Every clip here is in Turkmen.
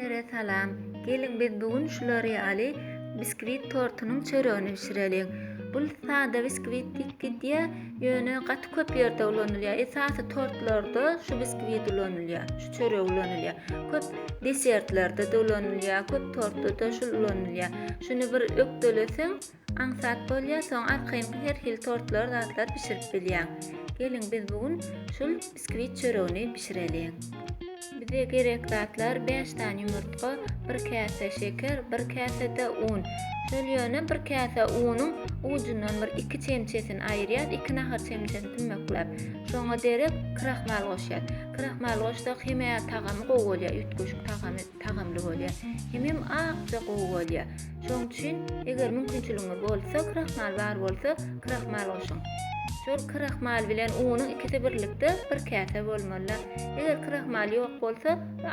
Hemmelere salam. Geliň biz bu gün şulary aly biskwit tortunyň çöregini bişireliň. Bu sada biskwit dik gidýär, ýöne gaty köp ýerde ulanylýar. Esasy tortlarda şu biskwit ulanylýar, şu çörek ulanylýar. Köp desertlerde-de ulanylýar, köp tortda-da şul ulanylýar. Şuny bir ökdeleseň, Aňsat bolýa soň arkaýynky her hil tortlar zatlar bişirip bilýäň. Geliň biz bu gün şul biskvit çöregini bişireliň. Bize gerek zatlar bäş sany ýumurtga, bir käse şeker, bir käse-de un. Şol ýöne bir käse unuň ujundan bir iki çemçesini aýyrýas, iki nahar çemçesini tümekläp. Şoňa derek krahmal goşýas. Krahmal goşsak hemä tagamy gowy bolýa, üýtgeşik tagamy. tagamly bolýar hemem akja gowy bolýar. Şoň üçin eger mümkinçiligiňiz bolsa krahmal bar bolsa krahmal goşuň. Şol krahmal bilen unuň ikisi birlikde bir käse bolmaly. Eger krahmal ýok bolsa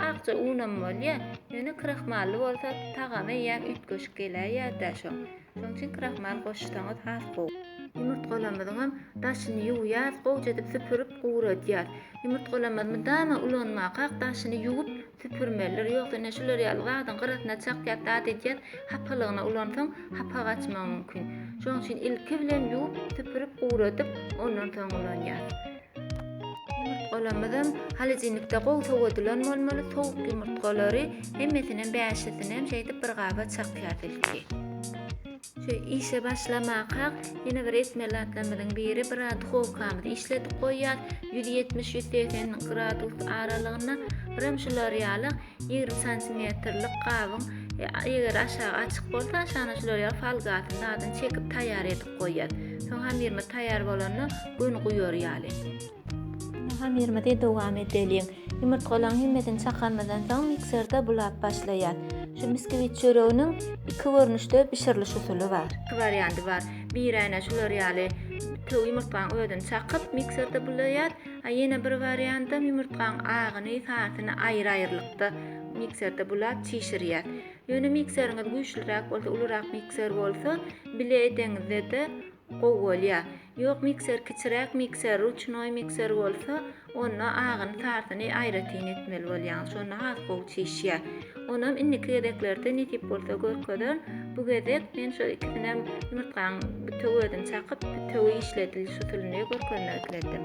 akja un hem bolýar. Ýöne krahmally bolsa tagamy ýa üýtgeşik geläýýär-dä şoň. Şoň üçin krahmal goşsaňyz has gowy. Ýumurtgalamyzyň hem daşyny ýuwýarys, gowja edip süpürip guradýarys. Ýumurtgalamyzy mydama ulanmakak daşyny ýuwup Süpürmelidir, ýogsa ine şular ýaly zadyň gyrasyna çakýas, zat edýäs, hapalygyna ulansaň, hapa gaçmagy mümkin. Şonuň üçin ilki bilen ýuwup, süpürip, guradyp, ondan soň ulanýas. Ýumurtgalarymyzam holodilnikde gowy sowadylan bolmaly, sowuk ýumurtgalary hemmesinem bäşisinem şeýdip bir gaba çakýas ilki. Şu işe başlamakak ýene bir etmeli zatlarymyzyň biri bir az duhowkamyzy işledip goýýas. Ýüz ýetmiş, ýüz segsen gradus aralygynda. Birem şular ýaly ýigrimi santimetrlik gabyň eger aşagy açyk bolsa aşagyna şular ýaly folgasyny zadyny çekip taýýar edip goýýas. Soň hamyrymyz taýýar bolanda gün guýar ýaly. Hamyrymyzy dowam edeliň. Ýumurtgalaryň hemmesini çakanymyzdan soň mikserde bulap başlaýas. Şu biskvit çöreginiň iki görnüşde bişiriliş usuly bar. Iki warianty bar. Biri äne şular ýaly bütew ýumurtganyň özüni çakyp mikserde bulaýas. A ýene bir wariantam ýumurtganyň agyny, sasyny aýry-aýrylykda mikserde bulap çişirýas. Ýöne mikseriňiz güýçliräk bolsa, ulurak mikser bolsa bile edeňizde-de Gowy bolýa. Ýok mikser kiçiräk mikser ruçnoý mikser bolsa onda agyny tartyny aýratyn etmeli bolýaň şonda has gowy çişýä. Onam indiki gezeklerde nesip bolsa görkezerin bu gezek men şo ikisinem ýumurtgaň bütew özüni çakyp bütewi işledilş usulyny görkezmek isledim.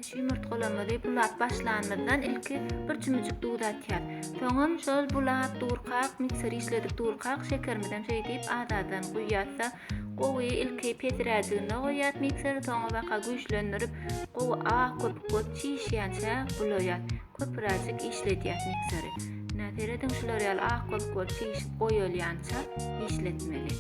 Şu ýumurtgalarymyzy bulap başlanymyzdan ilki bir çümüjik duz atýas. Soňam şol bulap durkak mikseri işledik durkak şekerimizem şeýdip az azdan guýýasda Gowy ilki pesiräk düwme goýýas mikser soňa baka güýçlendirip gowy ak köpük bolup çişýänçä bulaýas köpüräjik işledýäs mikseri ine serediň şular ýaly ak köpük bolup çişip goýalýança işletmeli.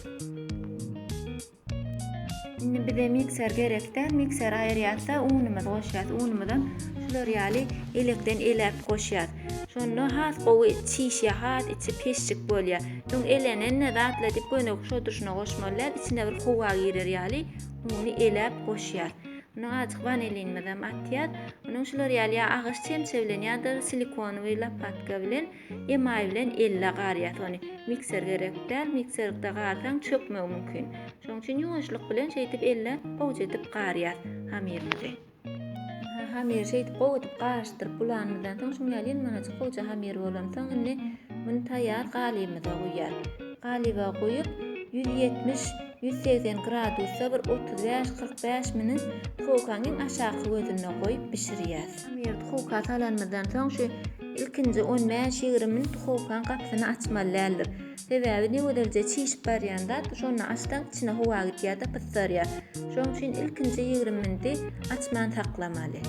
Indi bize mikser gerek däl mikseri aýyrýasda unumyzy goşýas unumyzam şular ýaly elekden elep goşýas Şonda has gowy çişýär, has içi peşşik bolýar. Öň elenende datla diýip göýnegi şoduryşyna goşmalydar, içine bir howa girer ýaly uny eläp goşýar. Unda azajyk wanilinimizem atýar. Ondan şular ýaly ýa agaç çemçe bilen ýa-da silikonowy lopatka bilen, emaý bilen elle garýas ony. Mikser gerek däl, mikserlikde garsaň çökmegi mümkin. Şonuň üçin ýuwaşlyk bilen şeýdip elle gowja edip garýas hamyrymyzy. Hamyry şeýdip gowy edip garyşdyryp bulanymyzdan soň şuň ýaly ýyndamajyk gowyja hamyr bolansoň indi muny taýýar galybymyza guýýas. Galyba guýup ýüz ýetmiş, ýüz segsen gradusda bir otuz bäş, kyrk bäş minut duhowkaň iň aşaky gözünde goýup bişirýäs. Hamyry duhowka salanymyzdan soň şu ilkinji on bäş, ýigrimi minut duhowkaň gapysyny açmaly däldir. Sebäbi negözelje çişip barýan zat şonda açsaň içine howa gidýärde pysarýar. Şoň üçin ilkinji ýigrimi minti açman saklamaly.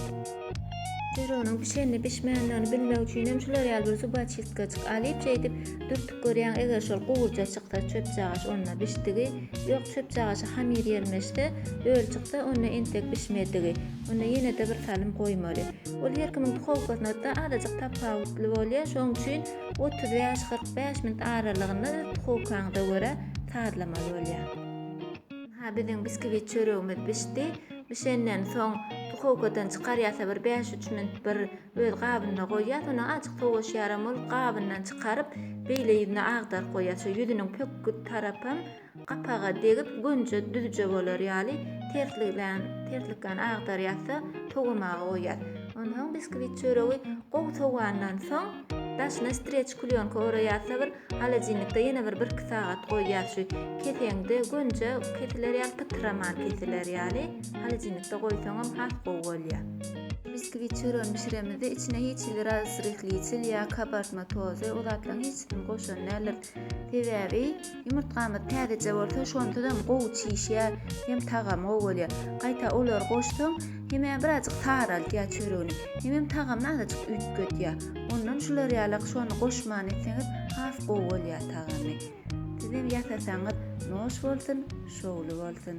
Pirognyň bişenini bişmändigini bilmek üçinem şular ýaly bir zubaçistkajyk alyp şeýdip dürtüp görýäň eger şol gowurja çyksa çöpjagaç onda bişdigi ýok çöpjagaşa hamir ýelmeşse öl çyksa onda entek bişmedigi onda ýenede bir salym goýmaly ol her kimiň duhowkasyna da azajyk tapawutly bolýa şoň üçin otuz bäş, kyrk bäş minut aralygynda öz duhowkaňyza görä sazlamaly bolýar. Ynha biziň biskvit çöregimiz bişdi. Bişenden soň duhowkadan çykarýasa bir bäş, üç minut bir öz gabynda goýýas. Ondan azjyk sowaşýaram ol gabyndan çykaryp beýle ýüzüne agdaryp goýýas. Şu ýüzüniň pökgi tarapam Gapaga degip gönje düzje bolar ýaly terslikleýän terslikleýän agdar ýatsa sowamaga goýýas. Onsoň biskwit çöregi gowy sowandan soň daşyna streç klýonka oraýasa bir holodilnikde ýene bir bir iki sagat goýýas şu keseňde gönje kesiler ýaly pytraman kesiler ýaly holodilnikde goýsaňam has gowy bolýar. Biskwit çöregini bişiremizde içine hiç hili razryhliçil ýa kabartma tozy o zatlaryň hiçisini goşan däldiris. Sebäbi ýumurtgamyz täzeje bolsa şondanam gowy çişýär hem tagamy gowy bolýar. Gaýta olary goşsaň hemä birazjyk saraldýar çöregini hemem tagamyny azajyk üýtgedýär. Ondan şular ýalak şony goşman etseňiz has gowy bolýar tagamy. Sizem ýasasaňyz noş bolsun, şowly bolsun.